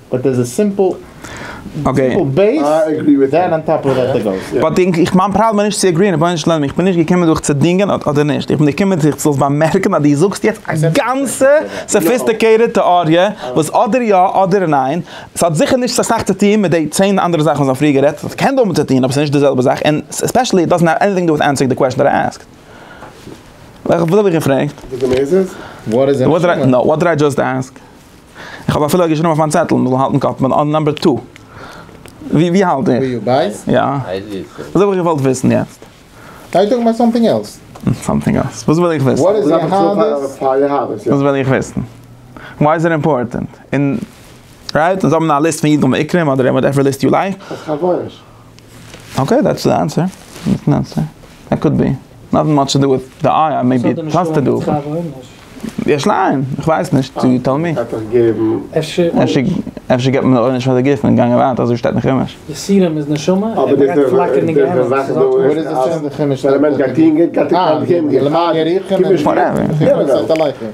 באט דער איז א סימפל בעיס דען אן טאפ אוו דעט גאוס יא. באט איך מיין פראבלעם איז נישט צו עגריען רבונו של עולם איך בין נישט געקומען דיך צו דינגען אדער נישט איך בין געקומען דיך זאלסט באמערקן אז דו זאגסט יעצט א גאנצע סאפיסטיקעיטעד טעאריע וואס אדער יא אדער ניין עס האט זיכער נישט אסאך צו טוהן מיט די צען אנדערע זאכן וואס מיר האבן פריער גערעדט עס קען דאמאלט צו טוהן אבער עס איז נישט די זעלבע זאך און ספעשעלי איט דאזענט העוו עניטינג טו דו וויט ענסערינג די קוועשען דעט איי עסקד. וואס האב איך געפרעגט? וואט דיד איי דזשאסט עסק? איך האב אפילו געשריבן אויף מיין צעטל מ'זאל האלטן קאפ מיט נאמבער טו. ווי האלט איר? ווי בייס? יא. דאס האב איך געוואלט וויסן יעצט. אר יו טאלקינג אבאוט סאמטינג עלס? סאמטינג עלס? וואס וויל איך וויסן? וואט איז יהדות? וואס וויל איך וויסן? וויי איז איט אימפארטענט? און רייט? און זיי האבן א ליסט פון אידן ועיקרים אדער וואטעווער ליסט יו לייק. אקעי דעטס די ענסער, דאס איז די ענסער, דעט קאוד בי, נאטינג מאטש טו דא וויט די איי איי מעיבי איט האס טו דא איך ליין, איך ווייס נישט יו טעל מי, אפשר געט מען עונש פאר די גוף און גאנגען ווייטער אזוי שטייט אין חומש. יסורים איז נשמה ער ברענגט פלאקערנדיגע עניוות.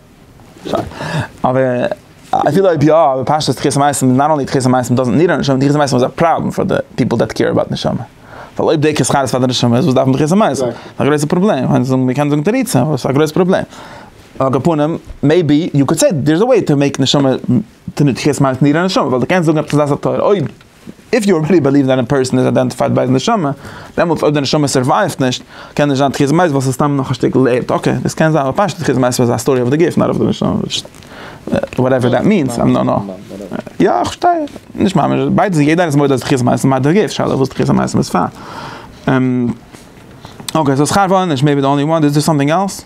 אבער אפילו אויב יא, אבער פשטות תחיית המתים איז נאט אנלי תחיית המתים דאזענט ניד א נשמה, תחיית המתים איז א פראבלעם פאר די פיפל דעט קעיר אבאוט נשמה, ווייל אויב די קעירסט חלילה פאר די נשמה איז וואס דארף מען תחיית המתים? עס איז א גרויסע פראבלעם, מען קען זאגן מען קען זאגן תירוצים אבער עס איז א גרויסע פראבלעם, על כל פנים מעיבי יו קאן סעי דער איז א וועי טו מעיק נשמה, תחיית המתים ניד א נשמה, ווייל די קענסט זאגן עפעס א דעת התורה אויב. איף יו רילי בעליוו דעט א פערסאן איז איידענטיפייד ביי היז נשמה, דעמאלטס אויב די נשמה סערווייווט נישט, קען נישט זיין תחיית מת ווייל ס'איז סתם נאך א שטיקל ערד, אקעי, דאס קען זיין, אבער פשטות תחיית מת איז א סטארי אויף די גוף, נאט אויף די נשמה, וואטעווער דעט מיענס, איים נאט נאו. יא, איך פארשטיי, נישט ממש, ביידע זענען, יעדער איז מודה אז תחיית מת איז נאר די גוף, שאלה וואס תחיית המתים איז פאר. אקעי, סאו שכר ועונש מעיבי די אנלי וואן, איז דער סאמטינג עלס?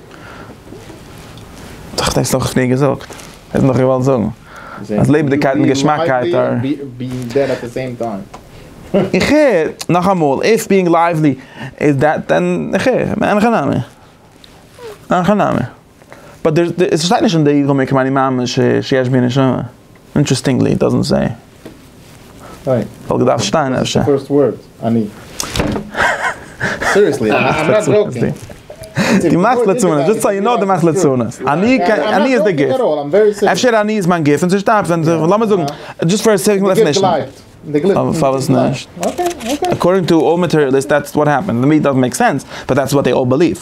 האט דאס נאך פריער געזאגט, איז נאך געוואלט זאגן אז לעבעדיגקייט און געשמאקייט אר. איך הער, נאכאמאל, איף ביאינג לייוועלי איז דעט דען איך הער, אין הכי נמי, אין הכי נמי, באט עס שטייט נישט אין די יגון מקום אני מאמין שיש בי נשמה, אינטרעסטינגלי, איט דאזענט סעי. וואלט געדארפט שטיין אפשר. די מאכסט ליצנות, דזשאסט סאו יו נאו די מאכסט ליצנות. אני איז די גיפט. אפשר אני איז מיין גיפט און ס'שטארבט ווען, לאמיר זאגן, דזשאסט פאר סעיק אוו דעפענישן. פארוואס נישט? אקארדינג טו אלל מאטעריאליסט דעטס וואט העפענס, טו מי איט דאזענט מעיק סענס, באט דעטס וואט זיי אלל בעליוו.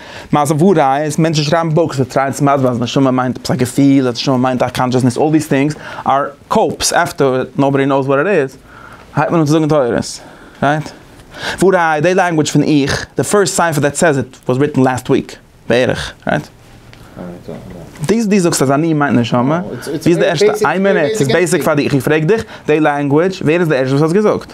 מעשה וואו ראיה איז מענטשן שרייבן בוקס זיי טרייען צו מסביר אז נשמה מיינט עפעס א געפיל אז נשמה מיינט א קאנטשעסנעס אלל דיס טינגס אר קאופס עפטער נאובאדי נאוס וואט איט איז הייבט מען אן צו זאגן תורות רייט וואו ראיה די לענגוויטש פון איך די פירסט ספר דעט סעז איט וואס ריטן לעסט וויק בערך רייט דיס די זאגסט אז אני מיינט נשמה ווי איז די ערשטע איין מינוט ס'איז בעיסיק פאר דיך איך פרעג דיך די לענגוויטש ווער איז די ערשטע וואס האט עס געזאגט.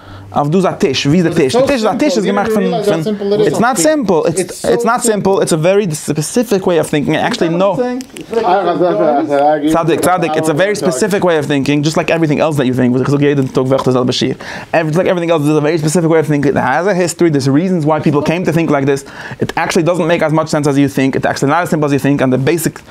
אויף דאס א טיש, ווי איז די טיש? די טיש איז א טיש איז געמאכט פון, איטס נאט סימפל, איטס נאט סימפל, איטס א ווערי ספעסיפיק וועי אוו טינקינג, עקשעלי נא, צדיק צדיק, איטס א ווערי ספעסיפיק וועי אוו טינקינג, דזשאסט לייק עווריטינג עלס דעט יו טינק, וואס איך זאג יעדן טאג וועלכע די זעלבע שיעור, דזשאסט לייק עווריטינג עלס דאס איז א ווערי ספעסיפיק וועי אוו טינקינג, איט העז א היסטארי, דערס ריזענס וויי פיפל קעים טו טינק לייק דעס, איט עקשעלי דאזענט מעיק עז מאטש סענס עז יו טינק, איטס עקשעלי נאט עז סימפל עז יו טינק, און די בעיסיק.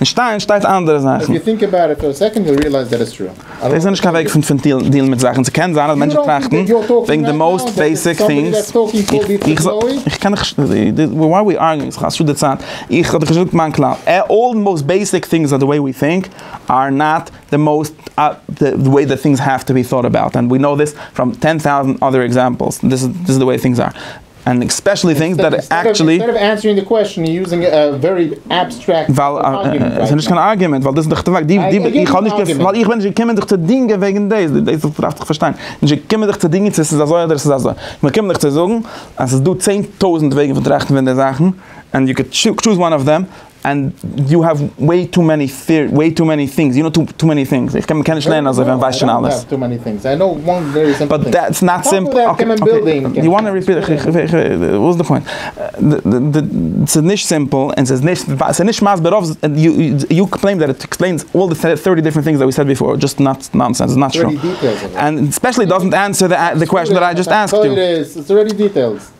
אין שטיין שטייט אנדערע זאכן. דאס איז נישט קיין וועג פון פון דילן מיט זאכן. ס'קען זיין אז מענטשן טראכטן וועגן די מאוסט בעיסיק טינגס. איך קען נישט וואי אר וויא ארגינג ס'איז חסות די צייט. איך האב דאך נישט געזאגט מיין כלל. אלל די מאוסט בעיסיק טינגס אר די וועי וויא טינק אר נאט די מאוסט די וועי די טינגס העוו טו בי טאוט אבאוט. ענד וויא נאו דיס פראם טען טאוזענט אדער עקזעמפעלס. דיס איז די וועי טינגס אר. ענד עקספעשעלי טינגס דעט עקטשעלי. אינסטעד אוו ענסערינג די קוועסטשען יו זינג א ווערי עבסטרעקט. ווייל עס איז נישט קיין ארגומענט ווייל דאס איז דאך די פאקט. איך האב נישט געפ. ווייל איך בין נישט געקומען דיך צו דינגען וועגן דאס. דאס דארפסט דאך פארשטיין. נישט געקומען דיך צו דינגען צו עס איז אזוי אדער עס איז אזוי. איך בין געקומען דיך צו זאגן אז עס איז דא צען טויזנט וועגן פון טראכטן פון די זאכן ענד יו קען טשוז וואן אוו דעם. ענד יו העוו וועי טו מעני וועי טו מעני טינגס יו נאו טו מעני טינגס איך קען מען קען נישט לערנען אזוי ווען מען ווייסט שוין אלעס באט דעטס נאט סימפל אקעי יו וואנט מי ריפיט וואס איז די פוינט ס'איז נישט סימפל און ס'איז נישט ס'איז נישט מסביר רוב יו קלעים דעט איט עקספלעינס אלל די טערטי דיפרענט טינגס דעט ווי סעד ביפאר דזשאסט נאנסענס נאט טרו ענד ספעשעלי דאזענט ענסער די קוועשען דעט איי דזשאסט עסקד יו.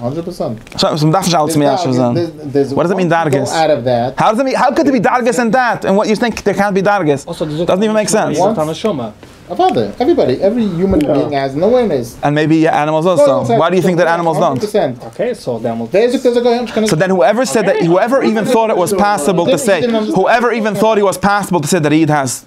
הונדרעט פראצענט. סאו מען דארף נישט אלץ מיישב זיין. וואט דאס מיען דרגות? האו קען דער בי דרגות אין דעט און וואט יו טינק דער קענט בי דרגות? דאזענט איווען מעיק סענס. איז דאך א נשמה. אוודאי. עוועריבאדי, עווערי יומען בינג האזן אווערנעס. ענד מעיבי ענימעלס אלסא. וואי די יו טינק דעט ענימעלס דאנט? אקעי סאו דעמאלטס. ווער זאגט אז א גוי האט נישט קיין. סאו דען הואעווער סעד דעט הואעווער איווען טאט איט וואס פאסיבל טו סעי הואעווער איווען טאט איט וואס פאסיבל טו סעי דעט א איד האזט.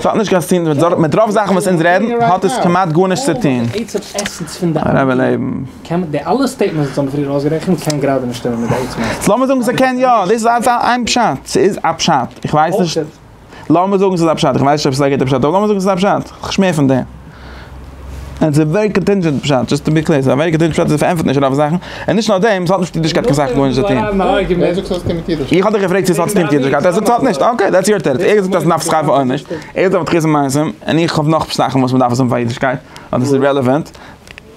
ס'האט נישט קיין ס'טוהן מיט מיט רוב זאכן וואס אונז רעדן האט עס כמעט גארנישט צוטוהן. הרב לעבן. לאמיר זאגן ס'קען יא, דאס איז איין פשט, ס'איז א פשט, איך ווייס נישט. לאמיר זאגן ס'איז א פשט, איך ווייס נישט אויב ס'איז א גוטע פשט, אבער לאמיר זאגן ס'איז א פשט, כ'שמיר פון דעם. און ס'איז ווערי קאנטינדזשענט פשט, דזשאסט טו בי קלער, ס'איז א ווערי קאנטינדזשענט פשט אז עס פארענטפערט נישט רוב זאכן, און נישט נאר דעם, ס'האט נישט מיט אידישקייט קיין סאך גארנישט צו טון. איך האב דיך געפרעגט צו ס'האט צו טון מיט אידישקייט, ער זאגט ס'האט נישט, אקעי, דעטס יור תירוץ, ער זאגט אז מ'דארף עס כאפן אויב נישט, ער איז דער וואס האט חוזה מעשים, און איך האב נאך זאכן וואס מ'דארף עס האבן פאר אידישקייט, אדער ס'איז רעלעווענט,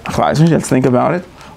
כ'ווייס נישט, לעטס טינק אבאוט איט.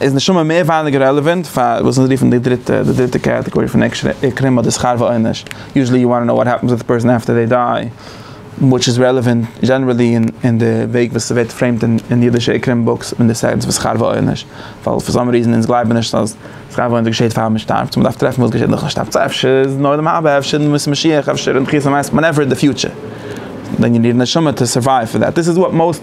איז נשמה מער ווייניגער רעלעווענט פאר וואס אונז רופן די דריטע די דריטע קעטעגארי פון עקרים אדער שכר ועונש, יוזשעלי יו וואנט טו נאו וואט העפענס וויט א פערסאן אפטער זיי דיי, וויטש איז רעלעווענט דזשענערעלי אין די וועג וואס ס'ווערט פרעימט אין אידישע עקרים בוקס אין די סענס פון שכר ועונש, ווייל פאר סאם ריזען אונז גלייבן נישט אז שכר ועונש געשעהט פאר מ'שטארבט, סאו מ'דארף טרעפן וואס געשעהט נאכן שטארבט, סאו אפשר איז אין עולם הבא, אפשר אין בימת המשיח, אפשר אין תחיית המתים, ווענעווער אין די פיוטשער, דען יו ניד א נשמה טו סורווייוו פאר דעט, דיס איז וואט מאוסט.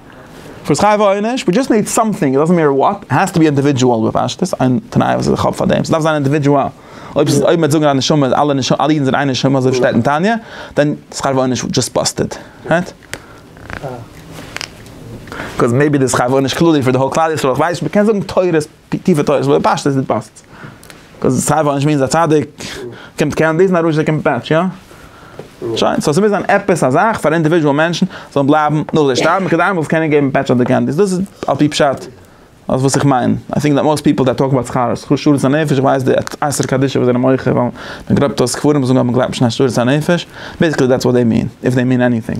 פאר שכר ועונש, ווי דזשאסט ניד סאמטינג, איט דאזענט מעטער וואט, איט העז טו בי אינדיווידזשועל בפשטות, איין תנאי וואס איך האב פאר דעם, ס'דארף זיין אינדיווידזשועל, אויב ס'איז אויב מען וועט זאגן אז נשמה איז אלע נשמה אלע אידן זענען איין נשמה אזוי ווי שטייט אין תניא, דען שכר ועונש דזשאסט באסטעד, רייט? קאז מעיבי די שכר ועונש כללי פאר די האול כלל ישראל, כ'ווייס נישט, מ'קען זאגן תורות. די טיפע תורת וויל פשט איז די פאסט. קאוז סיי וואלט נישט מינס א צדיק קומט קען דאס נאר רשע קומט פעטש יא? שוין סאו ס'מוז זיין עפעס א זאך פאר אינדיווידזשעל מענטשן זאלן בלייבן נאך זיי שטארבן כדי איינמאל זאל קענען געבן פעטש אויף די קענדיס דאס איז על פי פשט אז וואס איך מיין איי טינק דעט מאסט פיפל דעט טאלק אבאוט שכר שכר שארית הנפש איך ווייס די אסר קדישא וואס זענען מוחה ווייל מ'גלייבט אז קברים זאגן אז מ'גלייבט נישט אין שארית הנפש בעיסיקלי דעטס וואט דעי מין איף דעי מין עניטינג.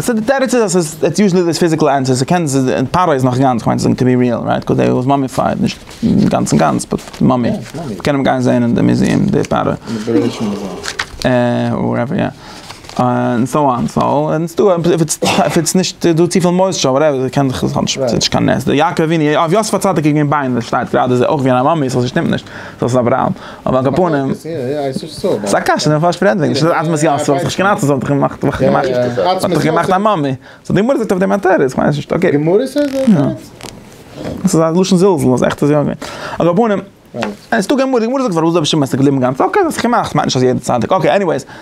סא די תירוץ איז אז ס'איז איטס יוזשעלי דעיס פיזיקעל ענטער, ס'קען זיי זיין און פרעה איז נאך גאנץ, כ'מיין צו זאגן טו בי ריעל רייט קאוז דעי וואס מאמיפייד, נישט גאנץ און גאנץ באט מאמי, מ'קען אים גיין זעהן אין די מוזיעם די פרעה. און וואטעווער יא, און סאו אן סאו און ס'איז דא אויב איטס אויב איטס נישט דא צופיל מויסטשור וואטעווער ס'קען זיך עס האט נישט קיין נס, די יעקב אבינו, אויף יוסף הצדיק איז געווען ביינער שטייט גראדע אויך ווי א מאמי, סא ס'שטימט נישט, סא ס'איז אברהם. אבער על כל פנים, ס'איז א קשיא, די פארשט פרענדליך, נישט אזוי עצמות יעקב, ס'האט זיך נישט קיין עצמות, ס'האט זיך געמאכט, וואך געמאכט, ס'האט זיך געמאכט א מאמע, ס'האט די גמרא זאגט אויף דעם א תירוץ, כ'מיין ס'נישט אקעי. די גמרא זאגט אויף דעם א תירוץ? יא. ס'איז א לשון זלזול, אז עכט איז יא געווען. על כל פנים, עס איז דא גמרא, די גמרא זאגט פארוואס איז רבי שמעון עס איז געבליבן גאנץ, אקעי, ס'האט זיך געמאכט, כ'מיין נישט אז יעדע צדיק, אקעי, עניוועיס.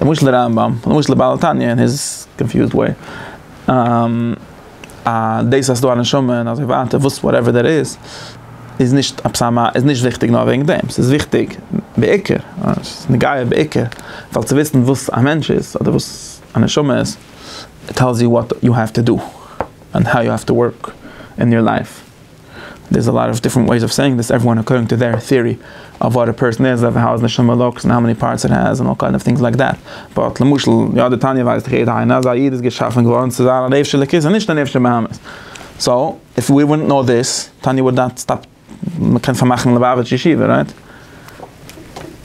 למשל די רמב ם, למשל די בעל התניא אין היז קאנפיוזד וועי, אז דאס אז ס'איז דא א נשמה און אזוי ווייטער וואס וואטעווער דעט איז, איז נישט עפעס א מ א, איז נישט וויכטיג נאר וועגן דעם, ס'איז וויכטיג בעיקר, ס'איז נוגע בעיקר, ווייל צו וויסן וואס א מענטש איז אדער וואס א נשמה איז, איט טעלס יו וואט יו העוו טו דא, און האו יו העוו טו ווארק אין יור לייף. דער איז א לאט אוו דיפרענט וועיס אוו סעיאינג דיס עוועריוואן אקארדינג טו דעיר טעארי אוו וואט א פערסאן איז אוו האו איז נישט נאר לוקס און האו מעני פארטס איט העז און אלל קיינד אוו טינגס לייק דעט באט למשל יא די תניא ווייסט דאך יעדער איינער אז א איד איז געשאפען געווארען צו זיין א נפש אלוקית און נישט א נפש בהמית סאו איף ווי וואנט נאו דיס תניא וואלט נאט סטאפט מען קען פארמאכען ליבאוויטש ישיבה רייט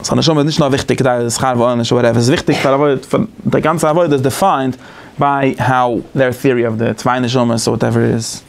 סאו א נשמה איז נישט נאר וויכטיג כדי שכר ועונש אבער עפעס וויכטיג פאר עבודה פאר די גאנצע עבודה איז דיפיינד ביי האו דעיר טעארי אוו די צוויי נשמות אוואט עווער איט איז.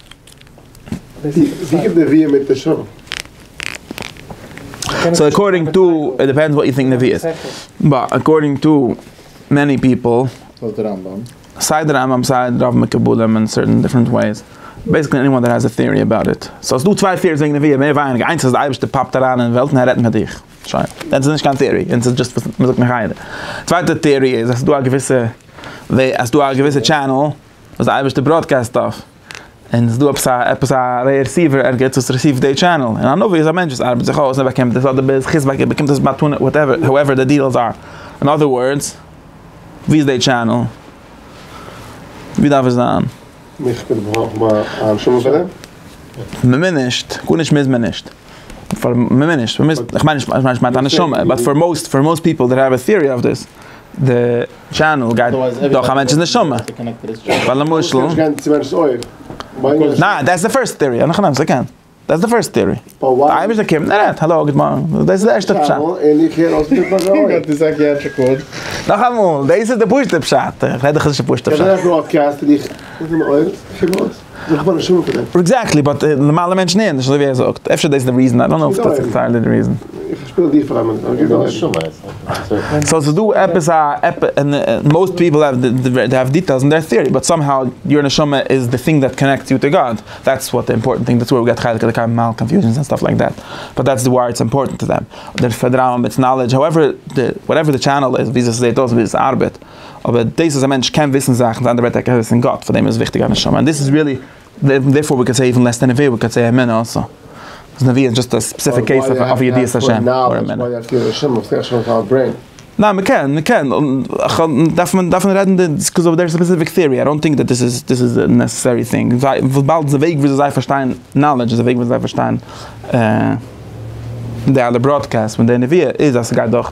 ווי קומט נביאים מיט נשמה? סאו אקארדינג טו, איט דיפענדס וואט יו טינק נביאות, באט אקארדינג טו מעני פיפל, סיי די רמב ם סיי די רוב מקובלים אין סערטען דיפרענט וועיס, בעסיקלי עניוואן דעט העז א טעארי אבאוט איט, סאו ס'איז דא צוויי טעאריס וועגן נביאים מער ווייניגער, איינס אז די אייבערשטער פאפט אריין אין וועלט און ער רעדט מיט דיך, שוין, דען ס'איז נישט קיין טעארי, דען ס'איז דזשאסט וואס מ'זאגט מחיה, צווייטע טעארי איז אז ס'איז דא א געוויסע וועי, אז ס'איז דא א געוויסע טשענעל. וואס די אייבערשטער בראדקעסט אויף, און עס איז דא עפעס א עפעס א רעסיווער ערגעץ וואס רעסיווט די טשענעל, און א נביא איז א מענטש וואס ארבעט זיך אויס און ער באקומט דאס, אדער בעז ה חז ו ער באקומט דאס מתנה וואטעווער האועווער די דיעלס אר, אין אדער ווארדס, ווי איז די טשענעל? ווי דארף עס זיין? מיך קען געברויכן מיין א נשמה פאר דעם? מ'מוז נישט, גארנישט מוז מען נישט, פאר מ'מוז נישט, מ'מוז, כ'מיין נישט, כ'מיין נישט מיינט א נשמה, באט פאר מאוסט, פאר מאוסט פיפל דעט העוו א טיערי אויף דיס, די. טשענעל גייט דורך א מענטש'ס נשמה, ווייל למשל. ניין, דעטס די פירסט טעארי, נאך א סעקענד, דעטס די פירסט טעארי, די אייבערשטער קומט און רעדט, האלא גוט מארגן, דאס איז די ערשטע פשט. נאכאמאל, דאס איז די פשוטע פשט, איך רעד דאך נישט פשט'ע פשט. איך בין נישט מומחה דערין. עקזעקטלי, באט נארמאלע מענטשן הערן נישט אזוי ווי ער זאגט. אפשר דאס איז די ריזען, איי דאנט נאו אויב דאס איז די ריזען. איך שפיל די פאר א מינוט, אבער גיב דו א רעדן. סאו ס'איז דא עפעס א, מאוסט פיפל העוו דעי העוו דיטעילס אין דער טעארי, באט סאם האו יור נשמה איז די טינג דעט קאנעקטס יו טו גאד, דעטס וואט די אימפארטענט טינג, דעטס ווער ווי געט חלק אלקי ממעל קאנפיוזענס ענד סטאף לייקט דעט, באט דעטס וואי איטס אימפארטענט טו דעם, דער פארדראנג מיט נאלעדזש, האועווער די, וואטעווער די טשענעל איז, וויאזוי ס'זעט אויס, וויאזוי ס'ארבעט. אבער דאס אז א מענטש קען וויסן זאכן איז א אנדערע ווערטער ער קען וויסן גאט פאר דעם איז וויכטיג א נשמה און דאס איז ריעלי דערפאר ווי קען סעי איווען לעס דען נביאה ווי קען סעי אמונה אלסא אז נביאה איז דזשאסט א ספעסיפיק קעיס אוו ידיעת השם אר אמונה. ניין מ'קען מ'קען דארף מען דארף מען רעדן די ביזקאוז אוו דער ספעסיפיק טעארי איי דאנט טינק דעט דאס איז דאס איז די נעסעסערי טינג וויבאלד די וועג וויאזוי זיי פארשטייען נאלעדזש איז די וועג וויאזוי זיי פארשטייען די אלע בראדקעסט פון די נביאה איז אז ס'גייט דורך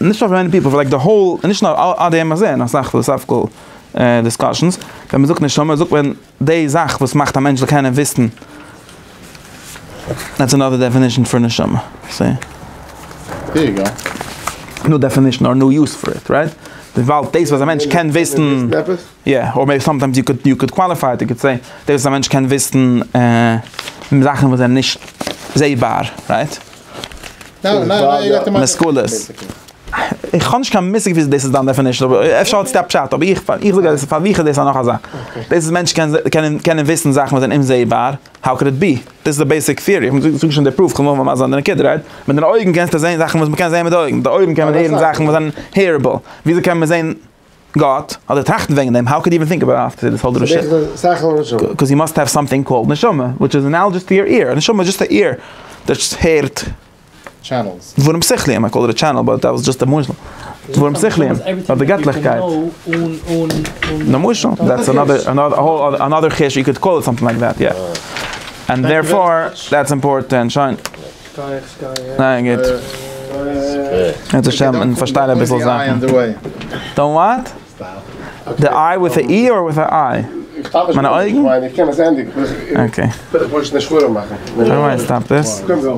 נישט פאר מעני פיפל, פאר לייק די האול, נישט נאר עד היום הזה, אין אסאך פילאסאפיקעל דיסקאשענס, ווען מען זאגט נשמה זאגט מען די זאך וואס מאכט א מענטש זאל קענען וויסן, דעטס אנאדער דעפינישן פאר נשמה, סי. דעיר יו גא. ניו דעפינישן אר ניו יוז פאר איט, רייט? וויבאלד דאס וואס א מענטש קען וויסן, יא, אר מעיבי סאמטיימס יו קוד יו קוד קוואליפיי איט, יו קוד סעי, דאס וואס א מענטש קען וויסן זאכן וואס זענען נישט זעבאר, רייט? משכולות. איך האב נישט קיין מושג וויאזוי דאס איז דיין דעפענישן אבער אפשר האט עס א פשט אבער איך איך זאג אז פאר מיך איז דאס א נאך א זאך. דאס איז מענטשן קענען קענען קענען וויסן זאכן וואס זענען אומזעהבאר האו קען איט בי? דאס איז די בעיסיק טיערי איך זאג נישט די פרוף כ'וויל נאר מסביר זיין די נקודה רייט? מיט דיינע אויגן קענסטו זעהן זאכן וואס מ'קען זעהן מיט די אויגן מיט די אויגן קען מען הערן זאכן וואס זענען העירעבל וויאזוי קען מען זעהן גאט, אדער טראכטן וועגן דעם, האו קאוד יו איווען טינק אבאוט איט, דאס האט דאס נישט, קאוז יו מאסט העוו סאמטינג קאלד נשמה, וויטש איז אנאלאגעס טו יור עיר, א נשמה איז דזשאסט א עיר, דאס הערט דברים שכליים, איי קאלד איט א טשענעל, באט דעט וואס דזשאסט א משל, דברים שכליים, אויף די געטליכקייט, למשל, דעטס אנאדער, אנאדער חידוש, יו קאוד קאל איט סאמטינג לייק דעט, יא, ענד דערפאר, דעטס אימפארטענט, שוין. ניין גוט. ער האט עס מען פארשטייט אביסל זאכן. דאנט וואט? די איי וויט א אי אר וויט א איי? מיינע אויגן? אקעי.